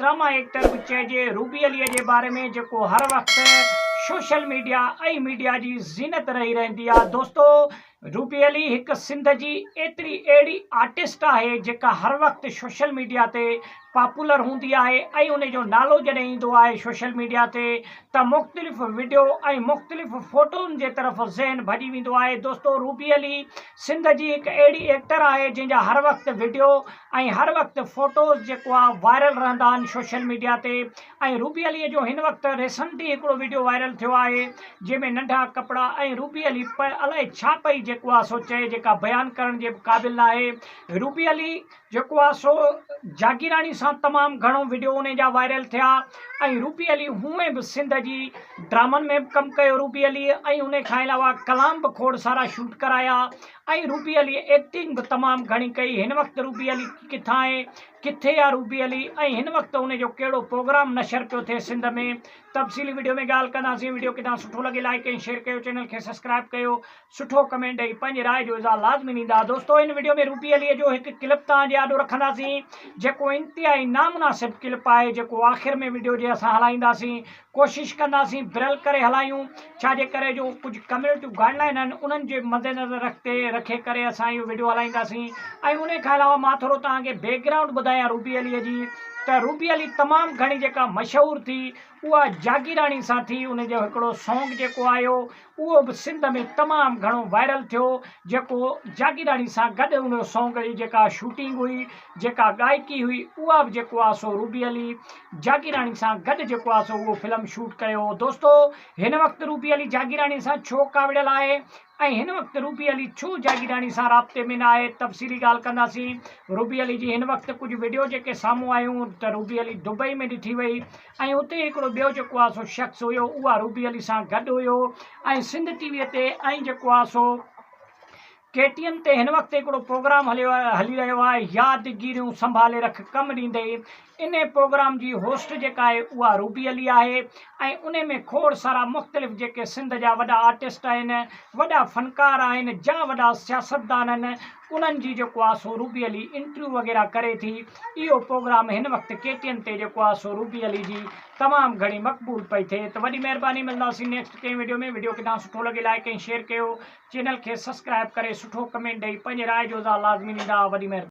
Drama actor به چئجي روبي عليء جي باري ۾ جيڪو هر وقت سوشل ميڊيا ۽ ميڊيا جي زينت رهي رهندي آهي دوستو روبي علي هڪ سنڌ جي ايتري اهڙي آرٽسٽ آهي جيڪا هر وقت سوشل ميڊيا تي پاپولر هوندي آهي ۽ ان جو نالو جڏهن ايندو آهي سوشل ميڊيا تي ته مختلف وڊيو ۽ مختلف فوٽون جي طرف ذهن ڀڄي ويندو آهي دوستو روبي علي سنڌ جي هڪ اهڙي ايڪٽر آهي جنهن جا هر وقت وڊيو ۽ هر وقت فوٽوز جيڪو آ وائرل رهندا آهن سوشل ميڊيا تي ۽ روبي علي جو هن وقت ريسنٽلي هڪڙو ويڊيو وائرل ٿيو آهي جنهن ۾ ننڍا ڪپڙا ۽ روبي علي پ الائي ڇا پئي جيڪو آ سو چئي جيڪا بيان ڪرڻ جي به قابل ناهي روبي علي جيڪو آ سو جاگيراڻي سان تمام گهڻو ويڊيو انهي جا وائرل ٿيا ۽ روبي علي هونئن به سنڌ جي ڊرامن ۾ به ڪم ڪيو روبي علي ۽ انهي کان علاوه ڪلام به کوڙ سارا شوٽ ڪرايا ۽ روبي علي ايڪٽنگ به تمام گهڻي ڪئي هن وقت روبي علي ڪٿان آهي ڪٿي آ روبي علي ۽ هن وقت ان جو ڪهڙو پروگرام نشر پيو ٿئي سنڌ ۾ تفصيلي وڊيو ۾ ڳالهه ڪنداسين وڊيو ڪٿان سٺو لڳي لائيڪ ۽ شيئر ڪيو چينل کي سبسڪرائيب ڪيو سٺو ڪمينٽ ڏئي پنهنجي راء جو اظهار لازمي ڏيندا دوستو هن وڊيو ۾ روبي علي جو هڪ ڪلپ توهان جي آڏو رکنداسين جيڪو انتهائي نامناسب ڪلپ آهي جيڪو آخر ۾ وڊيو جي اسان هلائينداسين ڪوشش ڪنداسين بريل ڪري هلايون ڇا جي ڪري جو ڪجهه ڪميونٽيون گائيڊ لائين آهن انهن جي مدنظر رکتي رکي ڪري اسان اهو وڊيو هلائينداسين ۽ انهي کان علاوه مان ٿورو توهان کي بيڪ گرائونڊ ٻڌايان روبي علي جي ته روبي علي تمام گهڻي جيڪا مشهور ٿي اها جاگيراڻي سان ٿي انهي جو هڪڙو سونگ جيڪو آيو اهو به سنڌ ۾ تمام گهڻو وائرل ٿيو جيڪو جاگيراڻي سان گڏ ان جو سانگ جي جيڪا شوٽنگ هئي جيڪا گائڪي هئي اها به جيڪو آهي سو روبي علي جاگيراڻي سان گڏ جيڪو آهي سو اهو فلم شوٽ ڪيو هو دوستو هن وقت روبي علي جاگيراڻي سان ڇو ڪاوڙيل آهي ۽ هن وقت روبي علي ڇو جاگيراڻي سان رابطي ۾ نه آهي تفصيلي ڳالهه ڪنداسين روبي علي جي هن وقت ڪجهه وڊيو جيڪي سامهون آيون ته روبي علي دبئي ۾ ڏٺي وئي ۽ اتي هڪڙو ٻيو جيڪو آهي سو شخص هيو اهو عروبي علي سان گڏ هيو ۽ سنڌ ٽي وي تي ۽ جيڪو آهي سو ڪي ٽي ايم تي هن وقت هڪڙو پروگرام هليو آهي هلي رهيو آهي ياد گيريون سنڀالي رک ڪم ڏيندي ان پروگرام جي هوسٽ جيڪا آهي اها روبي علي آهي ۽ ان ۾ کوڙ سارا مختلف جيڪي سنڌ جا وڏا آرٽسٽ آهن وڏا فنڪار آهن جا وڏا سياستدان آهن انهن جي جيڪو آ سو روبي علي انٽرويو وغيره ڪري ٿي اهو پوگرام هن وقت ڪي ٽي اين تي جيڪو آ سو روبي علي جي تمام گهڻي مقبول پئي ٿئي ته وڏي مهرباني ملنداسين نيڪسٽ ڪنهن وڊيو ۾ وڊيو ڪٿان سٺو لڳي لائڪ ۽ شيئر ڪيو چينل کي سسڪرائب ڪري سٺو ڪمينٽ ڏئي پنهنجي راء جو اظهار لازمي ڏيندا وڏي مهرباني.